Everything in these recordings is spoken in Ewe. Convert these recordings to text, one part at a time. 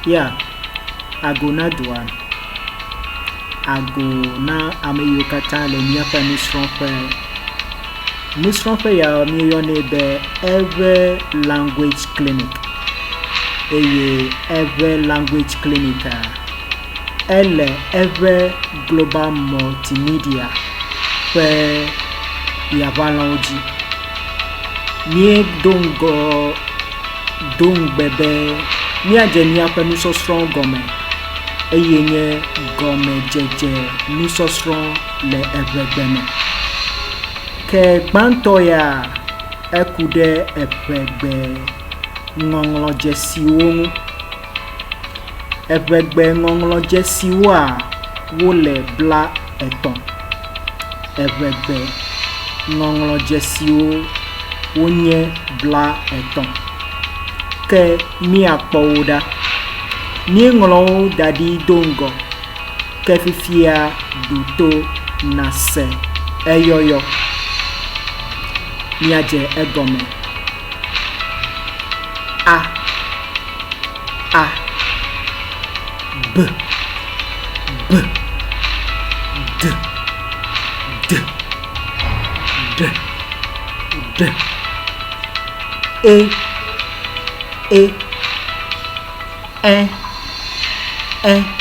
Ya ago na dua, ago na ame yiwo katã le míaƒe nusrɔ̃ƒe. Nusrɔ̃ƒe ya míeyɔnɛ be Every Language Clinic eye Every Language Clinic a ele Every Global Multimedia ƒe yaʋalɔ̃wo dzi. Míedo ŋgɔ do ŋugbe be míadze míaƒe nusɔsrɔ̃wo gɔme, eye nye gɔmedzedze nusɔsrɔ̃ le eŋegbe me. Ke gbãtɔ ya eku ɖe eŋegbe ŋɔŋlɔdzesiwo ŋu. Eŋegbe ŋɔŋlɔdzesiwoa, wole bla. etɔ̃. Eŋegbe ŋɔŋlɔdzesiwo wonye blaetɔ̃. Ke míakpɔ wo ɖa. Míeŋlɔ wo da ɖi do ŋgɔ, ke fifia ɖo to nàse eyɔyɔ, míadze egɔme. a a b b d d ɖ ɖ e e ɛ ɛ f f.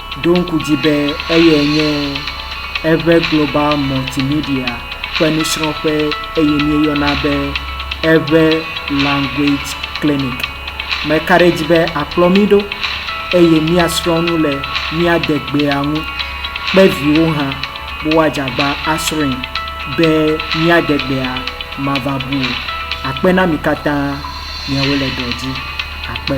ɖo ŋku dzi be eyae nye Ever Global Multimedia ƒe nusrɔ̃ƒe eye míeyɔna be Ever Language Clinic. Meka ɖe edzi be àkplɔ mí ɖo eye míasrɔ̃ nu le mía degbea ŋu kpe viwo hã be woadze agba asrɔ̃e be mía degbea mava bu o. Akpe na mi katã miawo le dɔ dzi. Akpe.